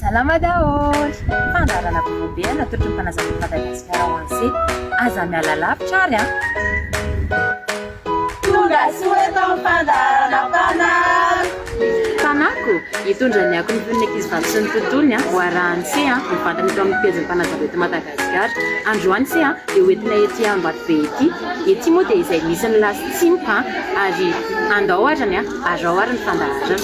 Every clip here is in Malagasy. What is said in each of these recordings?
Salama daholo! Fandaharana vaovao be natolotra ny mpanazatra eto Madagasikara ho antsika. Aza miala lavitra ary an! Tonga soa eto am-pandaharana Mpanabe. Fanako, hitondra ny akon'ny fon'ny ankizivavy sy ny tontolony an, ho arahan'ny se an, mivantana eto amin'ny pejin'ny Mpanazava eto Madagasikara. Androany se an, dia ho entina ety Ambatobe ety. Ety moa dia izay misy ny lasy tsimpa an, ary andao ary an. Azao ary ny fandaharana.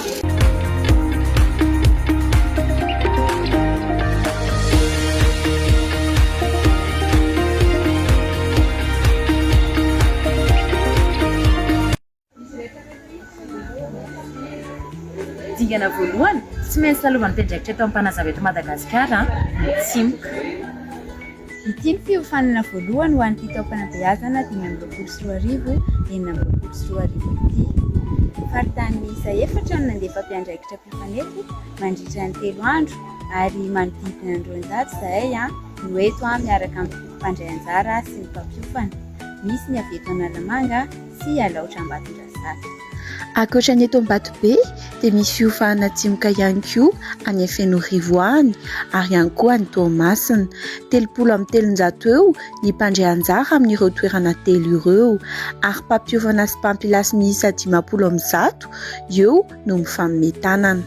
Dingana voalohany, tsy maintsy lalaovan'ny mpiandraikitra eto Ampanazava eto Madagasikara ny tsimoka. Ity ny fiofanana voalohany ho an'ity taom-panabeazana dimy amby roapolo sy roa arivo, enina amby roapolo sy roa arivo ity. Faritany miisa efatra no nandefa mpiandraikitra mpifanefy mandritra ny telo andro ary manodidina ny roanjato izahay no eto miaraka amin'ny mpandray anjara sy ny mpampiofana. Misy ny avy eto Analamanga sy Alaotra Ambatondrazafy. Ankoatra ny eto Ambatobe dia misy fiofahana atsimoka ihany koa any Fenorivo any ary ihany koa any Toamasina. Telopolo amby telonjato eo ny mpandray anjara amin'ireo toerana telo ireo ary mpampiofana sy mpampilasy miisa dimampolo amby zato eo no mifaminentanana.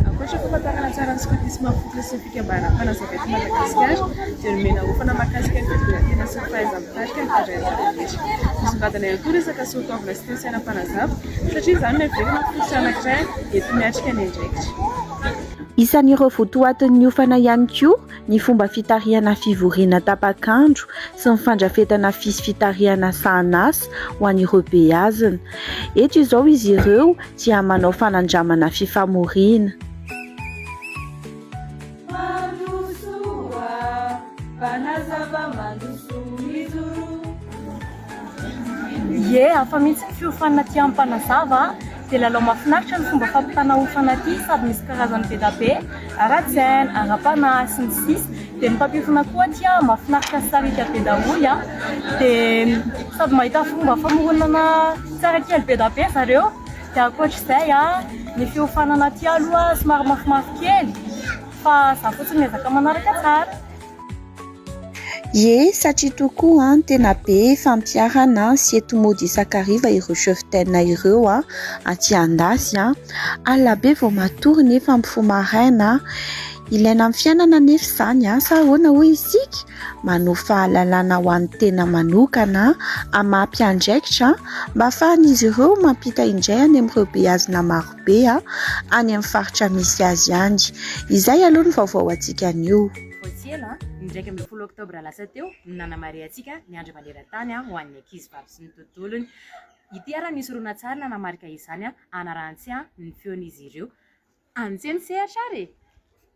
Ankoatra ny famantarana tsara ny skotisma fototry ny sy ny fikambanam-panazava eto Madagasikara dia nomena hofana mahakasika ny fitondran-tena sy ny fahaiza-mitarika ny mpandraharaha rehetra. Misongadina ihany koa ny resaka soatoavina sy toe-tsaina mpanazava satria izany no heverina ho fototra anankiray enti-miatrika ny andraikitra. Isan'ireo votoatin'ny hofana ihany koa ny fomba fitarihana fivoriana tapak'andro sy ny fandrafetana fis fitarihana sahanasa ho an'ireo beazina. Eto izao izy ireo dia manao fanandramana fifamoriana. Mandrosoa, mpanazava mandrosoa mijoroa. Ie, hafa mihitsy ny fiofanana aty amin'ny mpanazava a! Dia lalao mahafinaritra ny fomba fampitana hofana aty sady misy karazany be da be, ara-tsaina, ara-panahy, sy ny sisa Dia ny mpampiofana koa aty a, mahafinaritra sy sariaka be daholo a! Dia sady mahita fomba famoronana tsara kely be da be zareo Dia ankoatr'izay a, ny fiofanana aty aloha somary mafimafy kely fa za fotsiny miezaka manaraka tsara. Ie, satria tokoa tena be fampiharana sy eto mody isan-kariva ireo cheftaine ireo aty Andasy. Alina be vao matory nefa mifoha maraina. Ilaina amin'ny fiainana anefa izany sa ahoana hoy isika ? Manohy fahalalana ho an'ny tena manokana, hamapy andraikitra mba ahafahan'izy ireo mampita indray any amin'ireo beazina maro. be any amin'ny faritra misy azy any. Izay aloha ny vaovao antsika anio. Vao tsy ela, ny iraika ambin'ny folo oktobra lasa teo no nanamarihantsika ny Andro maneran-tany ho an'ny ankizivavy sy ny tontolony. Ity ary misy horonantsary nanamarika izany hanarahan-tsia ny feon'izy ireo. Any tse ny sehatra ary e!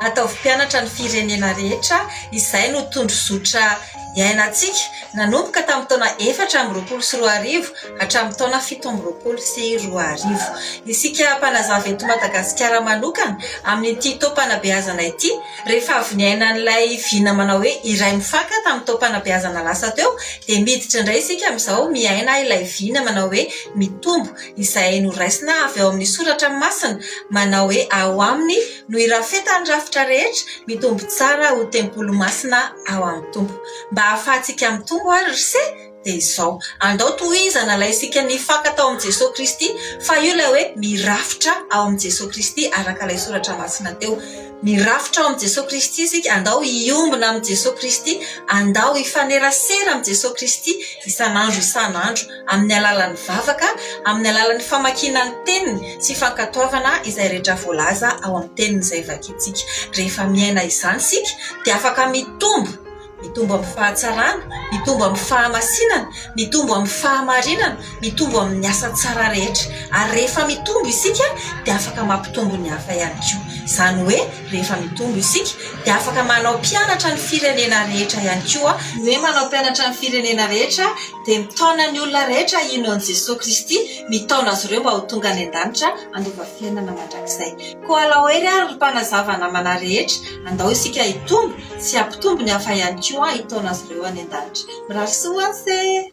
Ataovy mpianatra ny firenena rehetra, izay no tondrozotra iainantsika, nanomboka tamin'ny taona efatra amby roapolo sy roa arivo hatramin'ny taona fito amby roapolo sy roa arivo. Isika mpanazava eto Madagasikara manokana, amin'ity taom-panabeazana ity, rehefa avy niaina an'ilay vina manao hoe iray mifanka tamin'ny taom-panabeazana lasa teo, dia miditra indray isika amin'izao miaina ilay vina manao hoe mitombo, izay noraisina avy ao amin'ny soratra masina manao hoe ao aminy, no irafetan'ny rafitra rehetra mitombo tsara ho tempoly masina ao amin'ny Tompo. Mba hahafahantsika mitombo ary ry se dia izao, andao tohizana ilay isika nifaka tao amin'i Jesoa Kristy, fa io ilay hoe mirafitra ao amin'i Jesoa Kristy araka ilay soratra masina teo. Mirafitra ao amin'i Jesoa Kristy isika, andao hiombona amin'i Jesoa Kristy, andao hifanerasera amin'i Jesoa Kristy isan'andro isan'andro. amin'ny alalan'ny vavaka, amin'ny alalan'ny famakiana ny teniny sy fankatoavana izay rehetra voalaza ao amin'ny teniny izay vakintsika. Rehefa miaina izany isika dia afaka mitombo, mitombo amin'ny fahatsarana, mitombo amin'ny fahamasinana, mitombo amin'ny fahamarinana, mitombo amin'ny asa tsara rehetra. Ary rehefa mitombo isika dia afaka mampitombo ny hafa ihany koa. Izany hoe rehefa mitombo isika dia afaka manao mpianatra ny firenena rehetra ihany koa. Ny hoe manao mpianatra ny firenena rehetra Dia mitaona ny olona rehetra hino an'i Jesoa Kristy, mitaona azy ireo mba ho tonga any an-danitra handova fiainana mandrakizay. Koa alao ery ary ry mpanazava namana rehetra, andao isika hitombo sy hampitombo ny hafa ihany koa hitaona azy ireo any an-danitra. Mirary soa ho anse!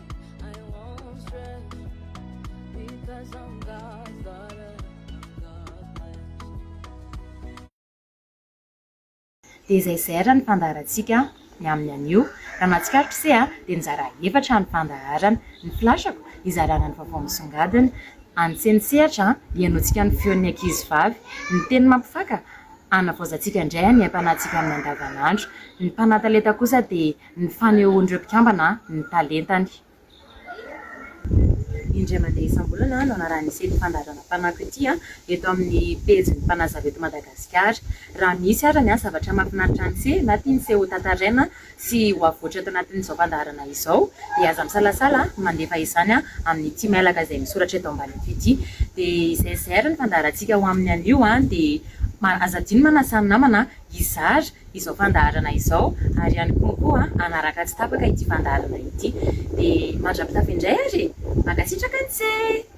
Dia izay izay ary ny fandaharantsika ny amin'ny anio. Raha mahatsikaritra ise a, dia nizara efatra ny fandaharana. Ny flash-ko, hizarana ny vaovao misongadina. Any tsenitsehatra, hihainoantsika ny feon'ny ankizivavy. Ny teny mampifaka, hanavaozantsika indray ny aim-panahintsika amin'ny andavanandro. Ny mpanatalenta kosa dia ny fanehoan'ireo mpikambana ny talentany. Indray mandeha isam-bolana no anarahan'ity sehatra fandaharana Mpanako ity eto amin'ny pejin'ny Mpanazava eto Madagasikara. Raha misy arany zavatra mahafinaritra an'ise na tian'ise ho tantaraina sy ho avoatra eto anatin'izao fandaharana izao dia aza misalasala mandefa izany amin'ity mailaka izay misoratra eto ambaniny ity. Dia izay zay ary ny fandaharantsika ho amin'ny anio dia aza adino manasa ny namana hizara izao fandaharana izao ary ihany koa koa hanaraka tsy tapaka ity fandaharana ity dia mandra-pitafy indray ary e! Mankasitraka antsee!